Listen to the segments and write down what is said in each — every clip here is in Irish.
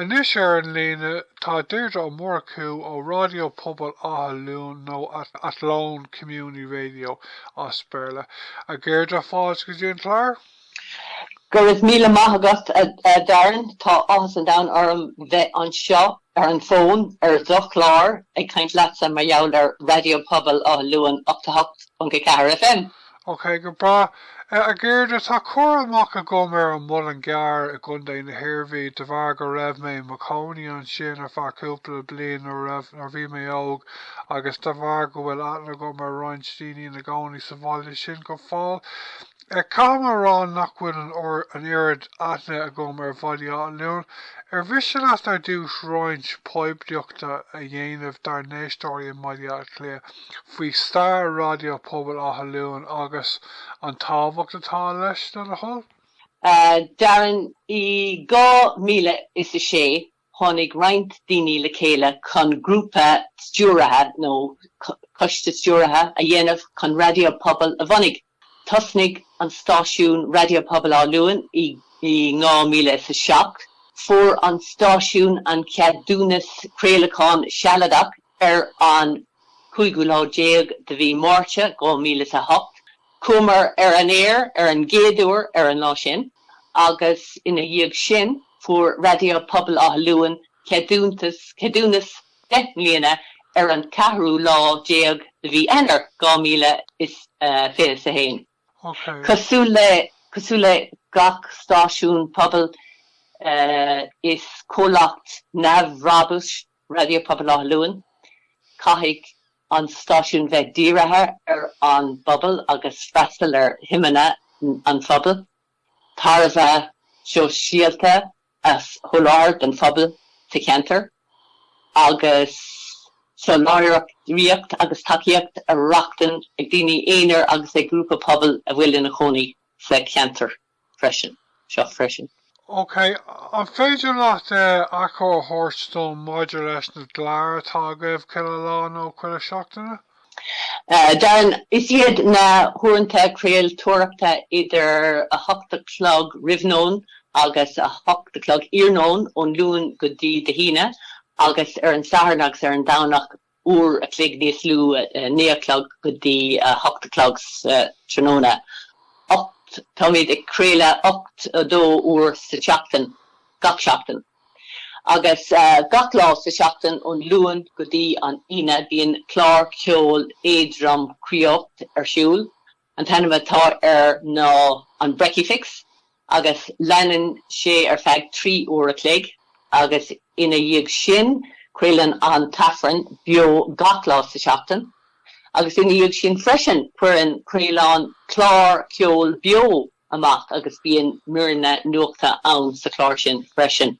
Anois ar an líne tá Deirdre Ó Murchú ó Ráidió Pobail Átha Luain nó Athlone Community Radio as Béarla. A Dheirdre, fáilte go dtí an clár! Go raibh míle maith agat, a Darren. Tá áthas an domhain orm bheith anseo ar an bhfón ar do chlár ag caint leatsa mar gheall ar Raidió Pobail Átha Luain 88.4 FM. OK, go breá. A Dheirdre, tá cur amach agam ar an Muileann gCearr i gContae na hIarmhí de bharr go raibh mé i mo chónaí ansin ar feadh cúpla bliain nuair a raibh, nuair a bhí mé óg agus de bharr go bhfuil aithne agam ar roinnt daoine ina gcónaí sa bhaile sin go fóill. Caithfidh mé a rá nach bhfuil an, an oiread aithne agam ar Bhaile Átha Luain. Ar mhiste leat ar dtús roinnt poiblíochta a dhéanamh dár n-éisteoirí i mBaile Átha Cliath? faoi stair Raidió Pobail Átha Luain agus an tábhacht atá leis, le do thoil? Darren, I dhá míle is a sé tháinig roinnt daoine le chéile chun grúpa stiúrtha nó coiste stiúrtha a dhéanamh chun Raidió Pobail a bhunaigh. Thosnaigh an stáisiún Raidió Pobail Áth Luain i 2007. Fuair an stáisiún an ceadúnas craolacháin sealadach ar an chúigiú lá déag de mhí Mhárta 2008. Chuamar ar an aer ar an gcéad uair ar an lá sin agus ina dhiaidh sin fuair Raidió Pobail Átha Luain ceadúntas, ceadúnas deich mbliana ar an ceathrú lá déag de mhí Eanáir 2021. Cosúil le gach stáisiún pobail, is comhlacht neamhbhrabúis Raidió Pobail Átha Luain. Caithfidh an stáisiún bheith dírithe ar an bpobal agus freastal ar shuimeanna an phobail, tairbhe shóisialta a sholáthar don phobal sa cheantar agus soláthraíocht agus tacaíocht a rochtain ag daoine aonair agus ag grúpa pobail a bhfuil ina chónaí sa cheantar freisin, seo freisin. OK, an féidir leat achoimre a thabhairt dom maidir leis na gcláir atá agaibh chuile lá nó chuile seachtaine? Darren, Is iad na huaireanta craoltóireachta idir a hocht a chlog roimh nóin agus a hocht a chlog iarnóin ón Luan go dtí De hAoine agus ar an Satharn agus ar an Domhnach uair a chloig níos lú, a naoi a chlog go dtí a hocht a chlog sa tráthnóna. Ocht, táimid ag craoladh ocht, a dó uair sa tseachtain, gach seachtain. Agus gach lá sa tseachtain, ón Luan go dtí an Aoine, bíonn clár ceoil éadrom craolta ar siúl. An t-ainm atá air ná an Brekkie Fix agus leanann sé ar feadh trí uair a chloig agus ina dhiaidh sin craolann an tAifreann beo gach lá sa tseachtain. Agus ina dhiaidh sin freisin, cuireann craoláin clár ceoil beo amach agus bíonn míreanna nuachta ann sa chlár sin freisin.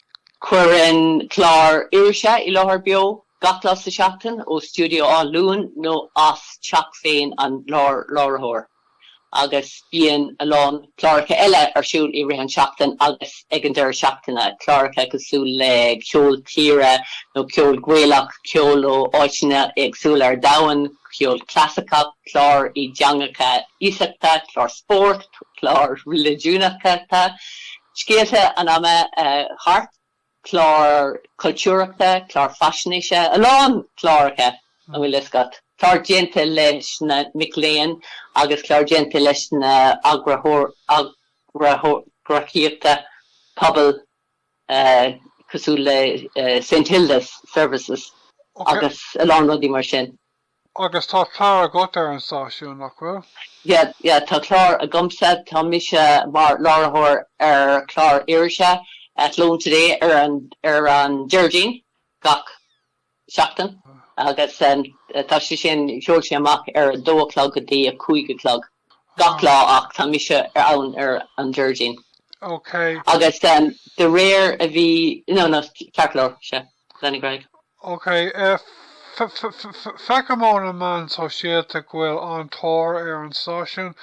Cuireann clár irise i láthair beo gach lá sa tseachtain, ó stiúideo Átha Luain nó as teach féin an láithreoir. Agus bíonn a lán cláracha eile ar siúl i rith an seachtain agus ag an deireadh seachtaine, cláracha cosúil le ceol tíre nó ceol Gaelach, ceol ó áiteanna éagsúla ar domhan, ceol clasaiceach, cláir i dteangacha iasachta, cláir spóirt, cláir reiligiúnacha, scéalta an ama thart. cláir chultúrachta, cláir faisnéise, a lán cláracha, an bhfuil a fhios agat, cláir déanta leis na mic léinn agus cláir déanta leis na eagraíochtaí pobail cosúil le St Hilda's Services agus a lán rudaí mar sin. Agus tá clár agat ar an stáisiún, nach bhfuil? Yeah, yeah, tá clár agamsa. Tá mise mar láithreoir ar chlár irise Athlone Today ar an, ar an Déardaoin gach seachtain agus tá sé sin, sheol sé amach ar a dó a chlog go dtí a cúig a chlog. gach lá ach tá mise ann ar an Déardaoin. OK. Agus de réir a bhí, no, no, ceart go leor, sea, lean ar aghaidh. OK. Feicim ó na meáin shóisialta go bhfuil an-tóir ar an stáisiún.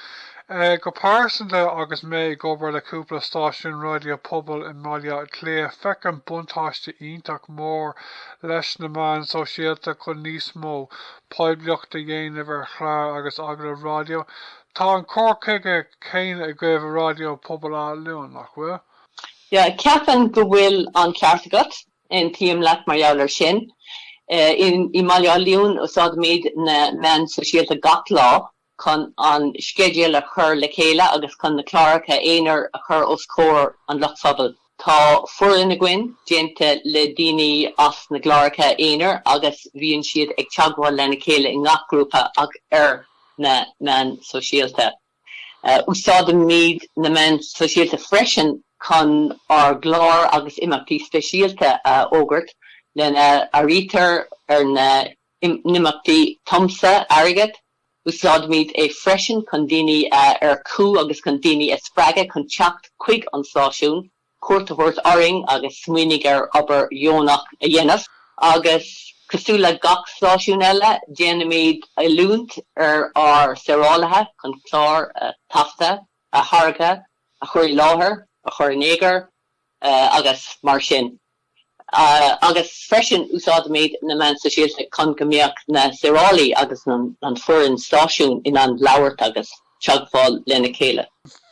Go pearsanta, agus mé ag obair le cúpla stáisiún raidió pobail i mBaile Átha Cliath, feicim buntáiste iontach mór leis na meáin shóisialta chun níos mó poiblíocht a dhéanamh ar chláir agus agallaimh raidió. Tá an cur chuige céanna agaibh i Raidió Pobail Átha Luain, nach bhfuil? Yeah, ceapaim go bhfuil an ceart agat, aontaím leat mar gheall ar sin. I mBaile Átha Luain, úsáidimid na meáin shóisialta gach lá chun an sceideal a chur le chéile agus chun na cláracha aonair a chur os comhair an lucht phobail. Tá foireann againn, déanta le daoine as na gcláracha aonair agus bíonn siad ag teagmháil lena chéile i ngach grúpa ach ar na meáin shóisialta. Úsáidimid na meáin shóisialta freisin chun ár gcláir agus imeachtaí speisialta a fhógairt, lena n-áirítear ar na n-imeachtaí tiomsú airgid, Úsáidimid é freisin chun daoine a earcú agus chun daoine a spreagadh chun teacht chuig an stáisiún, cuairt a thabhairt orainn agus smaoinigh ar obair dheonach a dhéanamh. Agus cosúil le gach stáisiún eile, déanaimid oiliúint ar ár saorálaithe chun cláir a taifeadadh, a tháirgeadh, a chur i láthair, a chur in eagar, Eh, agus mar sin. Ah, agus freisin, úsáidimid na meáin sóisialta chun go mbeadh na saorálaí agus an foireann stáisiúin in ann labhairt agus teagmháil lena chéile.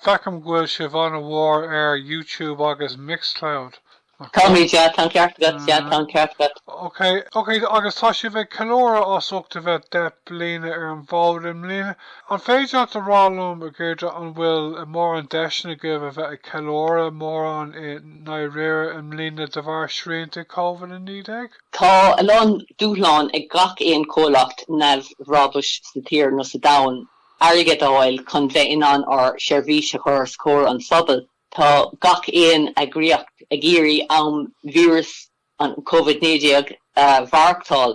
Feicim go bhfuil sibh an-mhór ar YouTube agus Mixcloud, nach bhfuil? Táimid, yeah, tá an ceart agat, yeah, tá an ceart agat. Ok, ok, agus tá sibh ag ceiliúradh as ucht a bheith 10 mbliana ar an bhfód i mbliana, An féidir leat a rá liom, a Dheirdre, an bhfuil mórán deiseanna agaibh a bheith ag ceiliúradh mórán i ndáiríre i mbliana de bharr srianta Covid-19? Tá a lán dúshlán ag gach aon chomhlacht neamhbhrabúis sa tír nó sa domhan, airgead a fháil chun bheith in ann ár seirbhís a chur os comhair an phobail. Tá gach aon eagraíocht ag iarraidh am víreas an Covid 19 a mhaireachtáil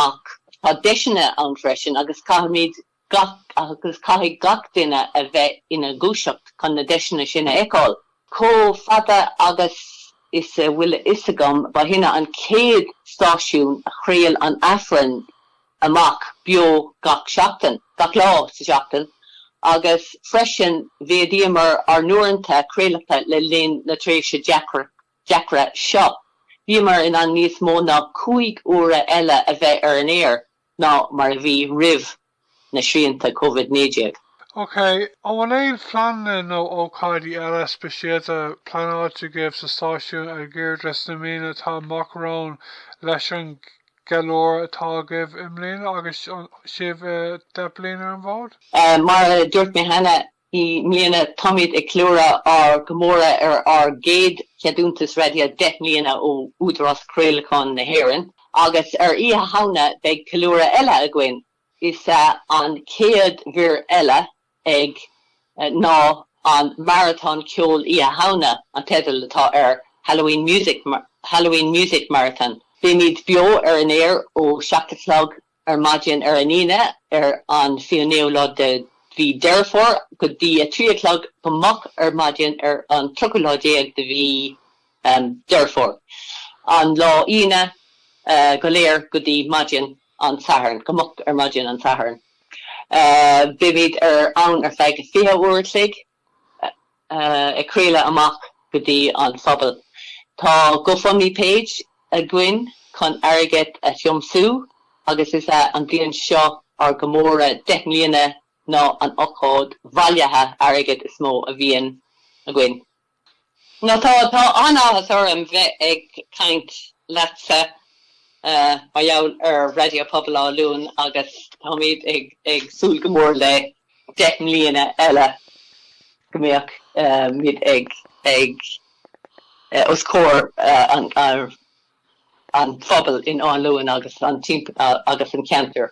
ach tá deiseanna ann freisin agus caithfimid gach, agus caithfidh gach duine a bheith ina ndúiseacht chun na deiseanna sin a fheiceáil. Chomh fada agus is a bhfuil a fhios agam, ba shinne an chéad stáisiún a chraol an Aifreann amach beo gach seachtain, gach lá sa tseachtain agus freisin mhéadaíomar ár n-uaireanta craolacta le linn na tréimhse deacra deacra seo. Bhíomar in ann níos mó ná cúig uaire eile a bheith ar an aer ná mar a bhí roimh na srianta Covid 19. OK, an bhfuil aon phleananna nó ócáidí eile speisialta pleanáilte agaibh sa stáisiún a Dheirdre sna míonna atá amach romhainn leis an gceiliúradh atá agaibh i mbliana agus sibh deich bliana ar an bhfód? Mar a dúirt mé cheana, I mbliana táimid ag ceiliúradh ár gcomóradh ar ár gcéad cheadúntas raidió 10 mbliana ó Údarás Craolacháin na hÉireann agus ar Oíche Shamhna beidh ceiliúradh eile againn, is ea an chéad mhír eile ag ná an Maratón Ceoil Oíche Shamhna, an teideal atá air, Halloween Music Halloween Music Marathon. Beimid beo ar an aer ó 7 a chlog Ar maidin ar an Aoine, ar an 29ú lá de mhí Dheireadh Fómhair, go dtí a trí a chlog go moch ar maidin ar an 30ú lá déag de mhí Dheireadh Fómhair, an lá Aoine go léir go dtí maidin an tSathairn, go moch ar maidin an tSathairn, beimid ar ann ar feadh fiche uair a chloig. ag craoladh amach go dtí an phobal. Tá GoFundMe page againn chun airgead a thiomsú agus is é an bhliain seo ár gcomóradh deich mbliana ná an ocáid bhailithe airgid is mó a bhíonn againn. Nó tá, tá an-áthas orm bheith ag caint leatsa mar gheall ar Raidió Pobail Áth Luain agus táimid ag, ag súil go mór le deich mbliana eile go mbeadh muid ag, ag, os comhair an, an phobail in Áth Luain agus an timpeall, agus an ceantar.